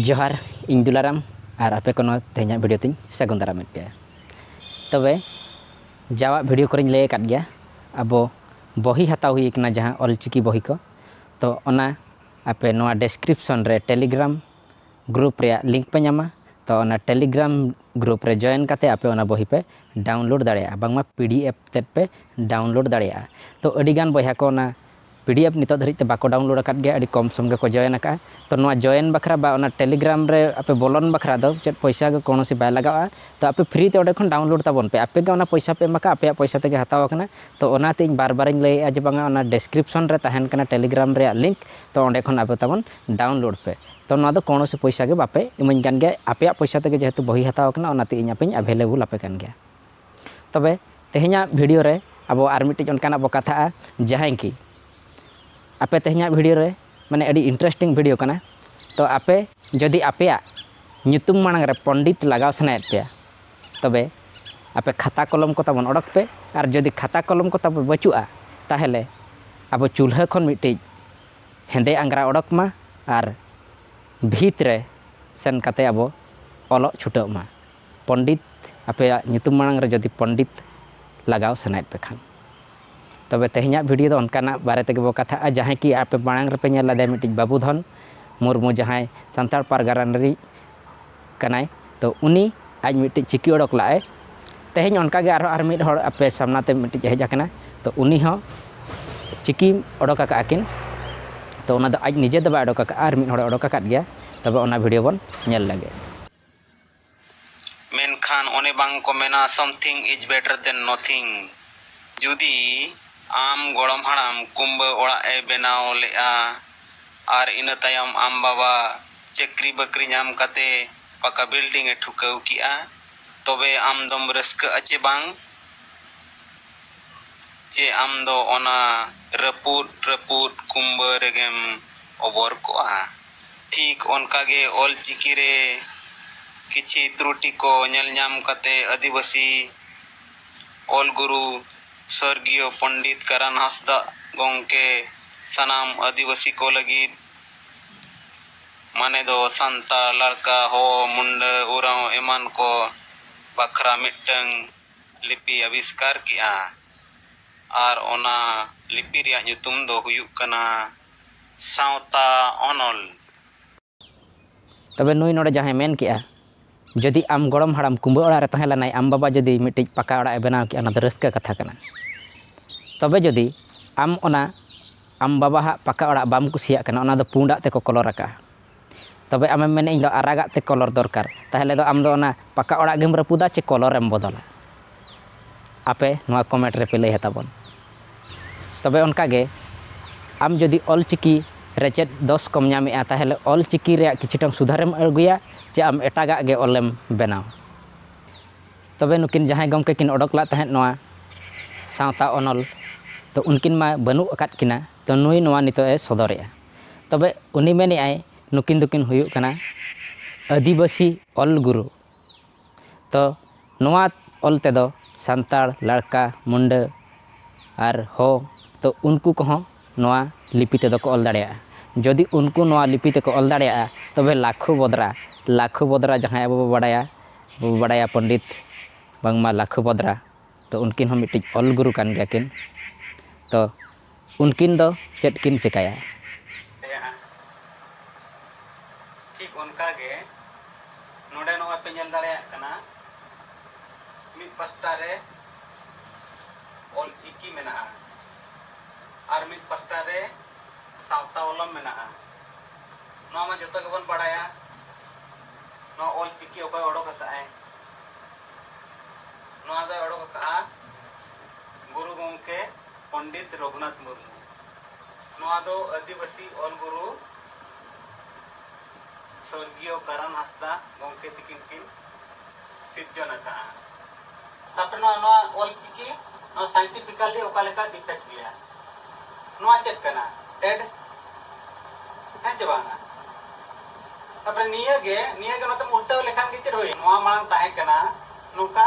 ᱡᱚᱦᱟᱨ ᱤᱧ ᱫᱩᱞᱟᱨᱟᱢ ᱟᱨ ᱟᱯᱮ ᱠᱚ ᱱᱚᱣᱟ ᱛᱮᱦᱮᱧᱟᱜ ᱵᱷᱤᱰᱤᱭᱳ ᱛᱤᱧ ᱥᱟᱹᱜᱩᱱ ᱫᱟᱨᱟᱢᱮᱫ ᱯᱮᱭᱟ ᱛᱚᱵᱮ ᱡᱟᱣᱟᱜ ᱵᱷᱤᱰᱤᱭᱳ ᱠᱚᱨᱮᱧ ᱞᱟᱹᱭ ᱟᱠᱟᱫ ᱜᱮᱭᱟ ᱟᱵᱚ ᱵᱚᱦᱤ ᱦᱟᱛᱟᱣ ᱦᱩᱭ ᱠᱟᱱᱟ ᱡᱟᱦᱟᱸ ᱚᱞ ᱪᱤᱠᱤ ᱵᱚᱦᱤ ᱠᱚ ᱛᱚ ᱚᱱᱟ ᱟᱯᱮ ᱱᱚᱣᱟ ᱰᱮᱥᱠᱨᱤᱯᱥᱚᱱ ᱨᱮ ᱴᱮᱞᱤᱜᱨᱟᱢ ᱜᱨᱩᱯ ᱨᱮᱭᱟᱜ ᱞᱤᱝᱠ ᱯᱮ ᱧᱟᱢᱟ ᱛᱚ ᱚᱱᱟ ᱴᱮᱞᱤᱜᱨᱟᱢ ᱜᱨᱩᱯ ᱨᱮ ᱡᱚᱭᱮᱱ ᱠᱟᱛᱮ ᱟᱯᱮ ᱚᱱᱟ ᱵᱚᱦᱤ ᱯᱮ ᱰᱟᱣᱩᱱᱞᱳᱰ ᱫᱟᱲᱮᱭᱟᱜᱼᱟ ᱵᱟᱝᱢᱟ ᱯᱤ ᱰᱤ ᱮᱯᱷ ᱛᱮᱫ ᱯᱮ ᱰᱟᱣᱩᱱᱞᱳᱰ ᱫᱟᱲᱮᱭᱟᱜᱼᱟ ᱛᱚ ᱟᱹᱰᱤᱜᱟᱱ ᱵᱚᱭᱦᱟ ᱠᱚ ᱚᱱᱟ ᱯᱤᱰᱤᱮᱯᱷ ᱱᱤᱛᱚᱜ ᱫᱷᱟᱹᱨᱤᱡ ᱛᱮ ᱵᱟᱠᱚ ᱰᱟᱣᱩᱱᱞᱳᱰ ᱟᱠᱟᱫ ᱜᱮᱭᱟ ᱟᱹᱰᱤ ᱠᱚᱢ ᱥᱚᱢ ᱜᱮᱠᱚ ᱡᱚᱭᱮᱱ ᱟᱠᱟᱫᱼᱟ ᱛᱚ ᱱᱚᱣᱟ ᱡᱚᱭᱮᱱ ᱵᱟᱠᱷᱨᱟ ᱵᱟ ᱚᱱᱟ ᱴᱮᱞᱤᱜᱨᱟᱢ ᱨᱮ ᱟᱯᱮ ᱵᱚᱞᱚᱱ ᱵᱟᱠᱷᱨᱟ ᱫᱚ ᱪᱮᱫ ᱯᱚᱭᱥᱟ ᱜᱮ ᱠᱳᱱᱳ ᱥᱮ ᱵᱟᱭ ᱞᱟᱜᱟᱜᱼᱟ ᱛᱚ ᱟᱯᱮ ᱯᱷᱨᱤ ᱛᱮ ᱚᱸᱰᱮ ᱠᱷᱚᱱ ᱰᱟᱣᱩᱱᱞᱳᱰ ᱛᱟᱵᱚᱱ ᱯᱮ ᱟᱯᱮ ᱜᱮ ᱚᱱᱟ ᱯᱚᱭᱥᱟ ᱯᱮ ᱮᱢ ᱟᱠᱟᱫᱼᱟ ᱟᱯᱮᱭᱟᱜ ᱯᱚᱭᱥᱟ ᱛᱮᱜᱮ ᱦᱟᱛᱟᱣ ᱟᱠᱟᱱᱟ ᱛᱚ ᱚᱱᱟᱛᱮ ᱤᱧ ᱵᱟᱨ ᱵᱟᱨᱤᱧ ᱞᱟᱹᱭᱮᱫᱼᱟ ᱡᱮ ᱵᱟᱝᱟ ᱚᱱᱟ ᱰᱮᱥᱠᱨᱤᱯᱥᱚᱱ ᱨᱮ ᱛᱟᱦᱮᱱ ᱠᱟᱱᱟ ᱴᱮᱞᱤᱜᱨᱟᱢ ᱨᱮᱭᱟᱜ ᱞᱤᱝᱠ ᱛᱚ ᱚᱸᱰᱮ ᱠᱷᱚᱱ ᱟᱯᱮ ᱛᱟᱵᱚᱱ ᱰᱟᱣᱩᱱᱞᱳᱰ ᱯᱮ ᱛᱚ ᱱᱚᱣᱟ ᱫᱚ ᱠᱳᱱᱳ ᱥᱮ ᱯᱚᱭᱥᱟ ᱜᱮ ᱵᱟᱯᱮ ᱤᱢᱟᱹᱧ ᱠᱟᱱ ᱜᱮᱭᱟ ᱟᱯᱮᱭᱟᱜ ᱯᱚᱭᱥᱟ ᱛᱮᱜᱮ ᱡᱮᱦᱮᱛᱩ ᱵᱳᱭ ᱦᱟᱛᱟᱣ ᱠᱟᱱᱟ ᱚᱱᱟᱛᱮ ᱤᱧ ᱟᱯᱮᱧ ᱮᱵᱷᱮᱞᱮᱵᱚᱞ ᱟᱯᱮ ᱠᱟᱱ ᱜᱮᱭᱟ ᱛᱚᱵᱮ ᱛᱮᱦᱮᱧᱟᱜ ᱵᱷᱤᱰᱤᱭᱳ ᱨᱮ ᱟᱵᱚ ᱟᱨ ᱢᱤᱫᱴᱤᱡ ᱚᱱᱠᱟᱱᱟᱜ ᱵᱚ ᱠᱟᱛᱷᱟᱜᱼᱟ ᱡᱟᱦᱟᱸᱭ ᱠᱤ ᱟᱯᱮ ᱛᱮᱦᱮᱧᱟᱜ ᱵᱷᱤᱰᱤᱭᱳ ᱨᱮ ᱢᱟᱱᱮ ᱟᱹᱰᱤ ᱤᱱᱴᱟᱨᱮᱥᱴᱤᱝ ᱵᱷᱤᱰᱤᱭᱳ ᱠᱟᱱᱟ ᱛᱚ ᱟᱯᱮ ᱡᱩᱫᱤ ᱟᱯᱮᱭᱟᱜ ᱧᱩᱛᱩᱢ ᱢᱟᱲᱟᱝ ᱨᱮ ᱯᱚᱱᱰᱤᱛ ᱞᱟᱜᱟᱣ ᱥᱟᱱᱟᱭᱮᱫ ᱯᱮᱭᱟ ᱛᱚᱵᱮ ᱟᱯᱮ ᱠᱷᱟᱛᱟ ᱠᱚᱞᱚᱢ ᱠᱚ ᱛᱟᱵᱚᱱ ᱚᱰᱚᱠ ᱯᱮ ᱟᱨ ᱡᱩᱫᱤ ᱠᱷᱟᱛᱟ ᱠᱚᱞᱚᱢ ᱠᱚ ᱛᱟᱵᱚ ᱵᱟᱹᱪᱩᱜᱼᱟ ᱛᱟᱦᱚᱞᱮ ᱟᱵᱚ ᱪᱩᱞᱦᱟᱹ ᱠᱷᱚᱱ ᱢᱤᱫᱴᱤᱡ ᱦᱮᱸᱫᱮ ᱟᱝᱜᱽᱨᱟ ᱚᱰᱚᱠ ᱢᱟ ᱟᱨ ᱵᱷᱤᱛ ᱨᱮ ᱥᱮᱱ ᱠᱟᱛᱮ ᱟᱵᱚ ᱚᱞᱚᱜ ᱪᱷᱩᱴᱟᱹᱜ ᱢᱟ ᱯᱚᱱᱰᱤᱛ ᱟᱯᱮᱭᱟᱜ ᱧᱩᱛᱩᱢ ᱢᱟᱲᱟᱝ ᱨᱮ ᱡᱚᱫᱤ ᱯᱚᱱᱰᱤᱛ ᱞᱟᱜᱟᱣ ᱥᱟᱱᱟᱭᱮᱫ ᱯᱮ ᱠᱷᱟᱱ ᱛᱚᱵᱮ ᱛᱮᱦᱮᱧᱟᱜ ᱵᱷᱤᱰᱤᱭᱳ ᱫᱚ ᱚᱱᱠᱟᱱᱟᱜ ᱵᱟᱨᱮ ᱛᱮᱜᱮ ᱵᱚ ᱠᱟᱛᱷᱟᱜᱼᱟ ᱡᱟᱦᱟᱸᱭ ᱠᱤ ᱟᱯᱮ ᱢᱟᱲᱟᱝ ᱨᱮᱯᱮ ᱧᱮᱞ ᱞᱮᱫᱮᱭᱟ ᱢᱤᱫᱴᱤᱡ ᱵᱟᱵᱩᱫᱷᱚᱱ ᱢᱩᱨᱢᱩ ᱡᱟᱦᱟᱸᱭ ᱥᱟᱱᱛᱟᱲ ᱯᱟᱨᱜᱟᱱᱟ ᱨᱤᱱᱤᱡ ᱠᱟᱱᱟᱭ ᱛᱚ ᱩᱱᱤ ᱟᱡ ᱢᱤᱫᱴᱤᱡ ᱪᱤᱠᱤ ᱚᱰᱚᱠ ᱞᱟᱜᱼᱟᱭ ᱛᱮᱦᱮᱧ ᱚᱱᱠᱟᱜᱮ ᱟᱨᱦᱚᱸ ᱟᱨ ᱢᱤᱫ ᱦᱚᱲ ᱟᱯᱮ ᱥᱟᱢᱱᱟ ᱛᱮ ᱢᱤᱫᱴᱤᱡ ᱦᱮᱡ ᱟᱠᱟᱱᱟ ᱛᱚ ᱩᱱᱤ ᱦᱚᱸ ᱪᱤᱠᱤ ᱚᱰᱚᱠ ᱟᱠᱟᱫ ᱟᱹᱠᱤᱱ ᱛᱚ ᱚᱱᱟ ᱫᱚ ᱟᱡ ᱱᱤᱡᱮ ᱫᱚ ᱵᱟᱭ ᱚᱰᱚᱠ ᱟᱠᱟᱫᱼᱟ ᱟᱨ ᱢᱤᱫ ᱦᱚᱲᱮ ᱚᱰᱚᱠ ᱟᱠᱟᱫ ᱜᱮᱭᱟ ᱛᱚᱵᱮ ᱚᱱᱟ ᱵᱷᱤᱰᱤᱭᱳ ᱵᱚᱱ ᱧᱮᱞ ᱞᱮᱜᱮ ᱢᱮᱱᱠᱷᱟᱱ ᱚᱱᱮ ᱵᱟᱝ ᱠᱚ ᱢᱮᱱᱟ ᱥᱚᱢᱛᱷᱤᱝ ᱤᱡᱽ ᱵᱮᱴᱟᱨ ᱫᱮᱱ ᱱᱚᱛᱷᱤᱝ᱾ ᱡᱩᱫᱤ ᱟᱢ ᱜᱚᱲᱚᱢ ᱦᱟᱲᱟᱢ ᱠᱩᱢᱵᱟᱹ ᱚᱲᱟᱜ ᱮ ᱵᱮᱱᱟᱣ ᱞᱮᱜᱼᱟ ᱟᱨ ᱤᱱᱟᱹ ᱛᱟᱭᱚᱢ ᱟᱢ ᱵᱟᱵᱟ ᱪᱟᱹᱠᱨᱤ ᱵᱟᱹᱠᱨᱤ ᱧᱟᱢ ᱠᱟᱛᱮ ᱯᱟᱠᱟ ᱵᱤᱞᱰᱤᱝ ᱮ ᱴᱷᱩᱠᱟᱹᱣ ᱠᱮᱜᱼᱟ ᱛᱚᱵᱮ ᱟᱢ ᱫᱚᱢ ᱨᱟᱹᱥᱠᱟᱹᱜᱼᱟ ᱪᱮ ᱵᱟᱝ? ᱪᱮ ᱟᱢ ᱫᱚ ᱚᱱᱟ ᱨᱟᱹᱯᱩᱫ ᱨᱟᱹᱯᱩᱫ ᱠᱩᱢᱵᱟᱹ ᱨᱮᱜᱮᱢ ᱚᱵᱚᱨ ᱠᱚᱜᱼᱟ? ᱴᱷᱤᱠ ᱚᱱᱠᱟ ᱜᱮ ᱚᱞ ᱪᱤᱠᱤ ᱨᱮ ᱠᱤᱪᱷᱤ ᱛᱨᱩᱴᱤ ᱠᱚ ᱧᱮᱞ ᱧᱟᱢ ᱠᱟᱛᱮ ᱟᱹᱫᱤᱵᱟᱹᱥᱤ ᱚᱞ ᱜᱩᱨᱩ ᱥᱚᱨᱜᱤᱭᱚ ᱯᱚᱱᱰᱤᱛ ᱠᱟᱨᱟᱱ ᱦᱟᱸᱥᱫᱟᱜ ᱜᱚᱝᱠᱮ ᱥᱟᱱᱟᱢ ᱟᱹᱫᱤᱵᱟᱹᱥᱤ ᱠᱚ ᱞᱟᱹᱜᱤᱫ ᱢᱟᱱᱮ ᱫᱚ ᱥᱟᱱᱛᱟᱲ, ᱞᱟᱲᱠᱟ, ᱦᱚ, ᱢᱩᱱᱰᱟᱹ, ᱳᱨᱟᱶ ᱮᱢᱟᱱ ᱠᱚ ᱵᱟᱠᱷᱨᱟ ᱢᱤᱫᱴᱟᱹᱝ ᱞᱤᱯᱤ ᱟᱵᱤᱥᱠᱟᱨ ᱠᱮᱫᱼᱟ ᱟᱨ ᱚᱱᱟ ᱞᱤᱯᱤ ᱨᱮᱭᱟᱜ ᱧᱩᱛᱩᱢ ᱫᱚ ᱦᱩᱭᱩᱜ ᱠᱟᱱᱟ ᱥᱟᱶᱛᱟ ᱚᱱᱚᱞ᱾ ᱛᱚᱵᱮ ᱱᱩᱭ ᱱᱚᱰᱮ ᱡᱟᱦᱟᱸᱭ ᱢᱮᱱ ᱠᱮᱫᱼᱟ ᱡᱩᱫᱤ ᱟᱢ ᱜᱚᱲᱚᱢ ᱦᱟᱲᱟᱢ ᱠᱩᱸᱵᱟᱹ ᱚᱲᱟᱜ ᱨᱮ ᱛᱟᱦᱮᱸ ᱞᱮᱱᱟᱭ ᱟᱢ ᱵᱟᱵᱟ ᱡᱩᱫᱤ ᱢᱤᱫᱴᱤᱡ ᱯᱟᱠᱟ ᱚᱲᱟᱜ ᱮ ᱵᱮᱱᱟᱣ ᱠᱮᱫᱼᱟ ᱚᱱᱟ ᱫᱚ ᱨᱟᱹᱥᱠᱟᱹ ᱠᱟᱛᱷᱟ ᱠᱟᱱᱟ ᱛᱚᱵᱮ ᱡᱩᱫᱤ ᱟᱢ ᱚᱱᱟ ᱟᱢ ᱵᱟᱵᱟ ᱦᱟᱜ ᱯᱟᱠᱟ ᱚᱲᱟᱜ ᱵᱟᱢ ᱠᱩᱥᱤᱭᱟᱜ ᱠᱟᱱᱟ ᱚᱱᱟ ᱫᱚ ᱯᱩᱸᱰᱟᱜ ᱛᱮᱠᱚ ᱠᱚᱞᱚᱨ ᱟᱠᱟᱫᱼᱟ ᱛᱚᱵᱮ ᱟᱢᱮᱢ ᱢᱮᱱᱟ ᱤᱧ ᱫᱚ ᱟᱨᱟᱜᱟᱜ ᱛᱮ ᱠᱚᱞᱚᱨ ᱫᱚᱨᱠᱟᱨ ᱛᱟᱦᱚᱞᱮ ᱫᱚ ᱟᱢ ᱫᱚ ᱚᱱᱟ ᱯᱟᱠᱟ ᱚᱲᱟᱜ ᱜᱮᱢ ᱨᱟᱹᱯᱩᱫᱟ ᱪᱮ ᱠᱚᱞᱚᱨ ᱮᱢ ᱵᱚᱫᱚᱞᱟ ᱟᱯᱮ ᱱᱚᱣᱟ ᱠᱚᱢᱮᱱᱴ ᱨᱮᱯᱮ ᱞᱟᱹᱭ ᱟᱛᱟᱵᱚᱱ ᱛᱚᱵᱮ ᱚᱱᱠᱟ ᱜᱮ ᱟᱢ ᱡᱩᱫᱤ ᱚᱞ ᱪᱤᱠᱤ ᱨᱮ ᱪᱮᱫ ᱫᱚᱥ ᱠᱚᱢ ᱧᱟᱢᱮᱜᱼᱟ ᱛᱟᱦᱚᱞᱮ ᱚᱞ ᱪᱤᱠᱤ ᱨᱮᱭᱟᱜ ᱠᱤᱪᱷᱩᱴᱟᱢ ᱥᱩᱫᱷᱟᱹᱨᱮᱢ ᱟᱹᱜᱩᱭᱟ ᱪᱮ ᱟᱢ ᱮᱴᱟᱜᱟᱜ ᱜᱮ ᱚᱞᱮᱢ ᱵᱮᱱᱟᱣᱟ ᱛᱚᱵᱮ ᱱᱩᱠᱤᱱ ᱡᱟᱦᱟᱸᱭ ᱜᱚᱢᱠᱮ ᱠᱤᱱ ᱚᱰᱚᱠ ᱞᱮᱫ ᱛᱟᱦᱮᱸᱫ ᱱᱚᱣᱟ ᱥᱟᱶᱛᱟ ᱚᱱᱚᱞ ᱛᱚ ᱩᱱᱠᱤᱱ ᱢᱟ ᱵᱟᱹᱱᱩᱜ ᱟᱠᱟᱫ ᱠᱤᱱᱟ ᱛᱚ ᱱᱩᱭ ᱱᱚᱣᱟ ᱱᱤᱛᱚᱜ ᱮ ᱥᱚᱫᱚᱨᱮᱜᱼᱟ ᱛᱚᱵᱮ ᱩᱱᱤ ᱢᱮᱱᱮᱫ ᱟᱭ ᱱᱩᱠᱤᱱ ᱫᱚᱠᱤᱱ ᱦᱩᱭᱩᱜ ᱠᱟᱱᱟ ᱟᱹᱫᱤᱵᱟᱹᱥᱤ ᱚᱞ ᱜᱩᱨᱩ ᱛᱚ ᱱᱚᱣᱟ ᱚᱞ ᱛᱮᱫᱚ ᱥᱟᱱᱛᱟᱲ ᱞᱟᱲᱠᱟ ᱢᱩᱱᱰᱟᱹ ᱟᱨ ᱦᱳ ᱛᱚ ᱩᱱᱠᱩ ᱠᱚᱦᱚᱸ ᱱᱚᱣᱟ ᱞᱤᱯᱤ ᱛᱮᱫᱚ ᱠᱚ ᱚᱞ ᱫᱟᱲᱮᱭᱟᱜᱼᱟ ᱡᱩᱫᱤ ᱩᱱᱠᱩ ᱱᱚᱣᱟ ᱞᱤᱯᱤ ᱛᱮᱠᱚ ᱚᱞ ᱫᱟᱲᱮᱭᱟᱜᱼᱟ ᱛᱚᱵᱮ ᱞᱟᱠᱷᱩ ᱵᱮᱫᱽᱨᱟ ᱞᱟᱠᱷᱩ ᱵᱮᱫᱽᱨᱟ ᱡᱟᱦᱟᱸᱭ ᱟᱵᱚ ᱵᱚᱱ ᱵᱟᱰᱟᱭᱟ ᱟᱵᱚ ᱵᱚᱱ ᱵᱟᱰᱟᱭᱟ ᱯᱚᱱᱰᱤᱛ ᱵᱟᱝᱢᱟ ᱞᱟᱠᱷᱩ ᱵᱮᱫᱽᱨᱟ ᱛᱚ ᱩᱱᱠᱤᱱ ᱦᱚᱸ ᱢᱤᱫᱴᱤᱡ ᱚᱞ ᱜᱩᱨᱩ ᱠᱟᱱ ᱜᱮᱭᱟ ᱠᱤᱱ ᱛᱚ ᱩᱱᱠᱤᱱ ᱫᱚ ᱪᱮᱫ ᱠᱤᱱ ᱪᱮᱠᱟᱭᱟ? ᱛᱟᱦᱮᱸᱜᱼᱟ᱾ ᱴᱷᱤᱠ ᱚᱱᱠᱟ ᱜᱮ ᱱᱚᱰᱮ ᱱᱚᱜᱼᱚᱭ ᱯᱮ ᱧᱮᱞ ᱫᱟᱲᱮᱭᱟᱜ ᱠᱟᱱᱟ ᱢᱤᱫ ᱯᱟᱥᱴᱟ ᱨᱮ ᱚᱞ ᱪᱤᱠᱤ ᱢᱮᱱᱟᱜᱼᱟ ᱟᱨ ᱢᱤᱫ ᱯᱟᱥᱴᱟ ᱨᱮ ᱥᱟᱶᱛᱟ ᱚᱞᱚᱢ ᱢᱮᱱᱟᱜᱼᱟ᱾ ᱱᱚᱣᱟ ᱢᱟ ᱡᱚᱛᱚ ᱜᱮᱵᱚᱱ ᱵᱟᱲᱟᱭᱟ ᱱᱚᱣᱟ ᱚᱞ ᱪᱤᱠᱤ ᱚᱠᱚᱭ ᱚᱰᱚᱠ ᱟᱠᱟᱫᱼᱟᱭ? ᱱᱚᱣᱟ ᱫᱚᱭ ᱚᱰᱚᱠ ᱟᱠᱟᱫᱼᱟ ᱜᱩᱨᱩ ᱜᱚᱢᱠᱮ᱾ ᱯᱚᱱᱰᱤᱛ ᱨᱚᱜᱷᱩᱱᱟᱛᱷ ᱢᱩᱨᱢᱩ ᱱᱚᱣᱟ ᱫᱚ ᱟᱹᱫᱤᱵᱟᱹᱥᱤ ᱚᱞ ᱜᱩᱨᱩ ᱥᱚᱨᱜᱤᱭᱚ ᱠᱟᱨᱟᱱ ᱦᱟᱸᱥᱫᱟᱜ ᱜᱚᱢᱠᱮ ᱛᱤᱠᱤᱱ ᱠᱤᱱ ᱥᱤᱨᱡᱚᱱ ᱟᱠᱟᱜᱼᱟ᱾ ᱛᱟᱨᱯᱚᱨᱮ ᱱᱚᱣᱟ ᱱᱚᱣᱟ ᱚᱞ ᱪᱤᱠᱤ ᱱᱚᱣᱟ ᱥᱟᱭᱮᱱᱴᱤᱯᱷᱤᱠᱟᱞᱤ ᱚᱠᱟ ᱞᱮᱠᱟ ᱰᱤᱯᱷᱮᱠᱴ ᱜᱮᱭᱟ? ᱱᱚᱣᱟ ᱪᱮᱫ ᱠᱟᱱᱟ? ᱮᱰ ᱦᱮᱸ ᱪᱮ ᱵᱟᱝᱟ? ᱛᱟᱨᱯᱚᱨᱮ ᱱᱤᱭᱟᱹ ᱜᱮ ᱱᱤᱭᱟᱹ ᱜᱮ ᱱᱚᱛᱮᱢ ᱩᱞᱴᱟᱹᱣ ᱞᱮᱠᱷᱟᱱ ᱜᱮ ᱪᱮᱫ ᱦᱩᱭᱮᱱ? ᱱᱚᱣᱟ ᱢᱟᱲᱟᱝ ᱛᱟᱦᱮᱸ ᱠᱟᱱᱟ ᱱᱚᱝᱠᱟ᱾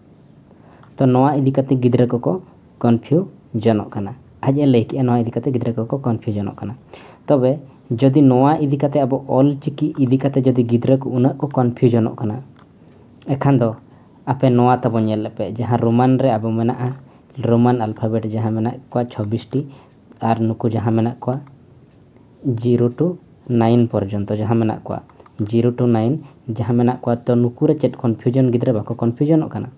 ᱛᱚ ᱱᱚᱣᱟ ᱤᱫᱤ ᱠᱟᱛᱮ ᱜᱤᱫᱽᱨᱟᱹ ᱠᱚᱠᱚ ᱠᱚᱱᱯᱷᱤᱭᱩᱡᱚᱱᱚᱜ ᱠᱟᱱᱟ ᱟᱡ ᱮ ᱞᱟᱹᱭ ᱠᱮᱜᱼᱟ ᱱᱚᱣᱟ ᱤᱫᱤ ᱠᱟᱛᱮ ᱜᱤᱫᱽᱨᱟᱹ ᱠᱚᱠᱚ ᱠᱚᱱᱯᱷᱤᱭᱩᱡᱚᱱᱚᱜ ᱠᱟᱱᱟ ᱛᱚᱵᱮ ᱡᱩᱫᱤ ᱱᱚᱣᱟ ᱤᱫᱤ ᱠᱟᱛᱮ ᱟᱵᱚ ᱚᱞ ᱪᱤᱠᱤ ᱤᱫᱤ ᱠᱟᱛᱮ ᱡᱩᱫᱤ ᱜᱤᱫᱽᱨᱟᱹ ᱠᱚ ᱩᱱᱟᱹᱜ ᱠᱚ ᱠᱚᱱᱯᱷᱤᱭᱩᱡᱚᱱᱚᱜ ᱠᱟᱱᱟ ᱮᱠᱷᱟᱱ ᱫᱚ ᱟᱯᱮ ᱱᱚᱣᱟ ᱛᱟᱵᱚ ᱧᱮᱞ ᱞᱮᱯᱮ ᱡᱟᱦᱟᱸ ᱨᱳᱢᱟᱱ ᱨᱮ ᱟᱵᱚ ᱢᱮᱱᱟᱜᱼᱟ ᱨᱳᱢᱟᱱ ᱟᱞᱯᱷᱟᱵᱮᱴ ᱡᱟᱦᱟᱸ ᱢᱮᱱᱟᱜ ᱠᱚᱣᱟ ᱪᱷᱚᱵᱵᱤᱥᱴᱤ ᱟᱨ ᱱᱩᱠᱩ ᱡᱟᱦᱟᱸ ᱢᱮᱱᱟᱜ ᱠᱚᱣᱟ ᱡᱤᱨᱳ ᱴᱩ ᱱᱟᱭᱤᱱ ᱯᱚᱨᱡᱚᱱᱛᱚ ᱡᱟᱦᱟᱸ ᱢᱮᱱᱟᱜ ᱠᱚᱣᱟ ᱡᱤᱨᱳ ᱴᱩ ᱱᱟᱭᱤᱱ ᱡᱟᱦᱟᱸ ᱢᱮᱱᱟᱜ ᱠᱚᱣᱟ ᱛᱚ ᱱᱩᱠᱩ ᱨᱮ ᱪᱮᱫ ᱠᱚᱱᱯᱷᱤᱭᱩᱡᱚᱱ ᱜᱤᱫᱽᱨᱟᱹ ᱵᱟᱠᱚ ᱠᱚᱱᱯᱷᱤᱭᱩᱡᱚᱱᱚᱜ ᱠᱟᱱᱟ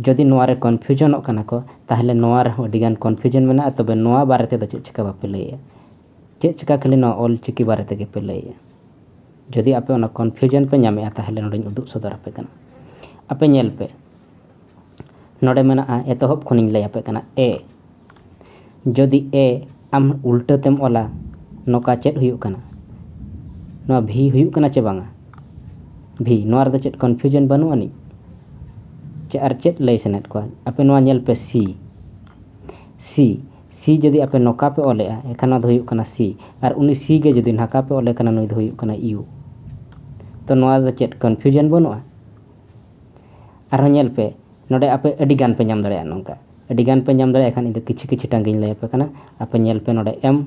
ᱡᱩᱫᱤ ᱱᱚᱣᱟ ᱨᱮ ᱠᱚᱱᱯᱷᱤᱭᱩᱡᱚᱱᱚᱜ ᱠᱟᱱᱟ ᱠᱚ ᱛᱟᱦᱚᱞᱮ ᱱᱚᱣᱟ ᱨᱮᱦᱚᱸ ᱟᱹᱰᱤ ᱜᱟᱱ ᱠᱚᱱᱯᱷᱤᱭᱩᱡᱚᱱ ᱢᱮᱱᱟᱜᱼᱟ ᱛᱚᱵᱮ ᱱᱚᱣᱟ ᱵᱟᱨᱮ ᱛᱮᱫᱚ ᱪᱮᱫ ᱪᱤᱠᱟᱹ ᱵᱟᱯᱮ ᱞᱟᱹᱭᱮᱜᱼᱟ ᱪᱮᱫ ᱪᱤᱠᱟᱹ ᱠᱷᱟᱹᱞᱤ ᱱᱚᱣᱟ ᱚᱞ ᱪᱤᱠᱤ ᱵᱟᱨᱮ ᱛᱮᱜᱮ ᱯᱮ ᱞᱟᱹᱭᱮᱜᱼᱟ ᱡᱩᱫᱤ ᱟᱯᱮ ᱚᱱᱟ ᱠᱚᱱᱯᱷᱤᱭᱩᱡᱚᱱ ᱯᱮ ᱧᱟᱢᱮᱜᱼᱟ ᱛᱟᱦᱚᱞᱮ ᱱᱚᱰᱮᱧ ᱩᱫᱩᱜ ᱥᱚᱫᱚᱨ ᱟᱯᱮ ᱠᱟᱱᱟ ᱟᱯᱮ ᱧᱮᱞ ᱯᱮ ᱱᱚᱰᱮ ᱢᱮᱱᱟᱜᱼᱟ ᱮᱛᱚᱦᱚᱵ ᱠᱷᱚᱱᱤᱧ ᱞᱟᱹᱭ ᱟᱯᱮ ᱠᱟᱱᱟ ᱮ ᱡᱚᱫᱤ ᱮ ᱟᱢ ᱩᱞᱴᱟᱹ ᱛᱮᱢ ᱚᱞᱟ ᱱᱚᱠᱟ ᱪᱮᱫ ᱦᱩᱭᱩᱜ ᱠᱟᱱᱟ ᱱᱚᱣᱟ ᱵᱷᱤ ᱦᱩᱭᱩᱜ ᱠᱟᱱᱟ ᱪᱮ ᱵᱟᱝᱟ ᱵᱷᱤ ᱱᱚᱣᱟ ᱨᱮᱫᱚ ᱪᱮᱫ ᱠᱚᱱᱯᱷᱤᱭᱩᱡᱚᱱ ᱵᱟᱹᱱᱩᱜ ᱟᱹᱱᱤᱡ ᱪᱮ ᱟᱨ ᱪᱮᱫ ᱞᱟᱹᱭ ᱥᱟᱱᱟᱭᱮᱫ ᱠᱚᱣᱟ ᱟᱯᱮ ᱱᱚᱣᱟ ᱧᱮᱞ ᱯᱮ ᱥᱤ ᱥᱤ ᱥᱤ ᱡᱩᱫᱤ ᱟᱯᱮ ᱱᱚᱠᱟ ᱯᱮ ᱚᱞᱮᱜᱼᱟ ᱮᱱᱠᱷᱟᱱ ᱱᱚᱣᱟ ᱫᱚ ᱦᱩᱭᱩᱜ ᱠᱟᱱᱟ ᱥᱤ ᱟᱨ ᱩᱱᱤ ᱥᱤ ᱜᱮ ᱡᱩᱫᱤ ᱱᱟᱠᱟ ᱯᱮ ᱚᱞᱮ ᱠᱟᱱᱟ ᱱᱩᱭ ᱫᱚ ᱦᱩᱭᱩᱜ ᱠᱟᱱᱟ ᱤᱭᱩ ᱛᱚ ᱱᱚᱣᱟ ᱨᱮᱫᱚ ᱪᱮᱫ ᱠᱚᱱᱯᱷᱤᱭᱩᱡᱚᱱ ᱵᱟᱹᱱᱩᱜᱼᱟ ᱟᱨᱦᱚᱸ ᱧᱮᱞ ᱯᱮ ᱱᱚᱰᱮ ᱟᱯᱮ ᱟᱹᱰᱤ ᱜᱟᱱ ᱯᱮ ᱧᱟᱢ ᱫᱟᱲᱮᱭᱟᱜᱼᱟ ᱱᱚᱝᱠᱟ ᱟᱹᱰᱤ ᱜᱟᱱ ᱯᱮ ᱧᱟᱢ ᱫᱟᱲᱮᱭᱟᱜ ᱠᱷᱟᱱ ᱤᱧ ᱫᱚ ᱠᱤᱪᱷᱩ ᱠᱤᱪᱷᱩ ᱴᱟᱝᱜᱤᱧ ᱞᱟᱹᱭ ᱟᱯᱮ ᱠᱟᱱᱟ ᱟᱯᱮ ᱧᱮᱞ ᱯᱮ ᱱᱚᱰᱮ ᱮᱢ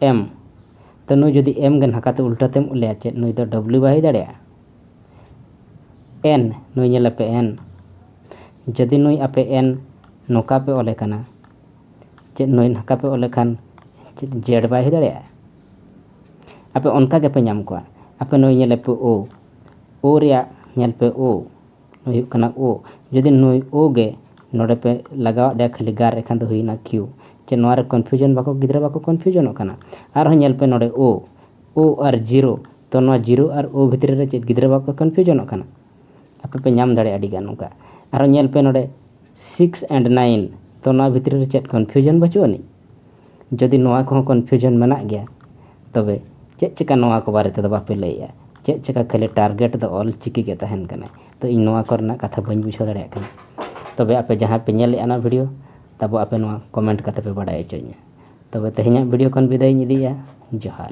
ᱮᱢ ᱛᱚ ᱱᱩᱭ ᱡᱩᱫᱤ ᱮᱢ ᱜᱮ ᱱᱟᱠᱟᱛᱮ ᱩᱞᱴᱟᱹᱛᱮᱢ ᱞᱟᱹᱭᱟ ᱪᱮᱫ ᱱᱩᱭ ᱫᱚ ᱰᱚᱵᱞᱤᱭᱩ ᱵᱟᱭ ᱦᱩᱭ ᱫᱟᱲᱮᱭᱟᱜᱼᱟ ᱮᱱ ᱱᱩᱭ ᱧᱮᱞ ᱟᱯᱮ ᱮᱱ ᱡᱩᱫᱤ ᱱᱩᱭ ᱟᱯᱮ ᱮᱱ ᱱᱚᱝᱠᱟ ᱯᱮ ᱚᱞᱮ ᱠᱟᱱᱟ ᱪᱮᱫ ᱱᱩᱭ ᱱᱟᱠᱟ ᱯᱮ ᱚᱞᱮ ᱠᱷᱟᱱ ᱪᱮᱫ ᱡᱮᱰ ᱵᱟᱭ ᱦᱩᱭ ᱫᱟᱲᱮᱭᱟᱜᱼᱟ ᱟᱯᱮ ᱚᱱᱠᱟ ᱜᱮᱯᱮ ᱧᱟᱢ ᱠᱚᱣᱟ ᱟᱯᱮ ᱱᱩᱭ ᱧᱮᱞᱮ ᱯᱮ ᱳ ᱳ ᱨᱮᱭᱟᱜ ᱧᱮᱞ ᱯᱮ ᱳ ᱱᱩᱭ ᱦᱩᱭᱩᱜ ᱠᱟᱱᱟ ᱳ ᱡᱩᱫᱤ ᱱᱩᱭ ᱳ ᱜᱮ ᱱᱚᱰᱮ ᱯᱮ ᱞᱟᱜᱟᱣ ᱟᱫᱮᱭᱟ ᱠᱷᱟᱹᱞᱤ ᱜᱟᱨ ᱮᱱᱠᱷᱟᱱ ᱫᱚ ᱦᱩᱭᱱᱟ ᱠᱤᱭᱩ ᱪᱮ ᱱᱚᱣᱟ ᱨᱮ ᱠᱚᱱᱯᱷᱤᱭᱩᱡᱚᱱ ᱵᱟᱠᱚ ᱜᱤᱫᱽᱨᱟᱹ ᱵᱟᱠᱚ ᱠᱚᱱᱯᱷᱤᱭᱩᱡᱚᱱᱚᱜ ᱠᱟᱱᱟ ᱟᱨᱦᱚᱸ ᱧᱮᱞ ᱯᱮ ᱱᱚᱰᱮ ᱳ ᱳ ᱟᱨ ᱡᱤᱨᱳ ᱛᱚ ᱱᱚᱣᱟ ᱡᱤᱨᱳ ᱟᱨ ᱳ ᱵᱷᱤᱛᱨᱤ ᱨᱮ ᱪᱮᱫ ᱜᱤᱫᱽᱨᱟᱹ ᱵᱟᱠᱚ ᱠᱚᱱᱯᱷᱤᱭᱩᱡᱚᱱᱚᱜ ᱠᱟᱱᱟ ᱟᱯᱮ ᱯᱮ ᱧᱟᱢ ᱫᱟᱲᱮᱭᱟᱜᱼᱟ ᱟᱹᱰᱤ ᱜᱟᱱ ᱚᱱᱠᱟ ᱟᱨᱦᱚᱸ ᱧᱮᱞ ᱯᱮ ᱱᱚᱰᱮ ᱥᱤᱠᱥ ᱮᱱᱰ ᱱᱟᱭᱤᱱ ᱛᱚ ᱱᱚᱣᱟ ᱵᱷᱤᱛᱨᱤ ᱨᱮ ᱪᱮᱫ ᱠᱚᱱᱯᱷᱤᱭᱩᱡᱚᱱ ᱵᱟᱹᱪᱩᱜ ᱟᱹᱱᱤᱡ ᱡᱩᱫᱤ ᱱᱚᱣᱟ ᱠᱚᱦᱚᱸ ᱠᱚᱱᱯᱷᱤᱭᱩᱡᱚᱱ ᱢᱮᱱᱟᱜ ᱜᱮᱭᱟ ᱛᱚᱵᱮ ᱪᱮᱫ ᱪᱤᱠᱟᱹ ᱱᱚᱣᱟ ᱠᱚ ᱵᱟᱨᱮ ᱛᱮᱫᱚ ᱵᱟᱯᱮ ᱞᱟᱹᱭᱮᱜᱼᱟ ᱪᱮᱫ ᱪᱤᱠᱟᱹ ᱠᱷᱟᱹᱞᱤ ᱴᱟᱨᱜᱮᱴ ᱫᱚ ᱚᱞ ᱪᱤᱠᱤ ᱜᱮ ᱛᱟᱦᱮᱱ ᱠᱟᱱᱟ ᱛᱚ ᱤᱧ ᱱᱚᱣᱟ ᱠᱚᱨᱮᱱᱟᱜ ᱠᱟᱛᱷᱟ ᱵᱟᱹᱧ ᱵᱩᱡᱷᱟᱹᱣ ᱫᱟᱲᱮᱭᱟᱜ ᱠᱟᱱᱟ ᱛᱚᱵᱮ ᱟᱯᱮ ᱡᱟᱦᱟᱸᱭ ᱯᱮ ᱧᱮᱞᱮᱜᱼᱟ ᱚᱱᱟ ᱵᱷᱤᱰᱭᱳ ᱛᱟᱵᱚ ᱟᱯᱮ ᱱᱚᱣᱟ ᱠᱚᱢᱮᱱᱴ ᱠᱟᱛᱮ ᱯᱮ ᱵᱟᱰᱟᱭ ᱦᱚᱪᱚᱧᱟ ᱛᱚᱵᱮ ᱛᱮᱦᱮᱧᱟᱜ ᱵᱷᱤᱰᱭᱳ ᱠᱷᱚᱱ ᱵᱤᱫᱟᱹᱭ ᱤᱧ ᱤᱫᱤᱭᱮᱜᱼᱟ ᱡᱚᱦᱟᱨ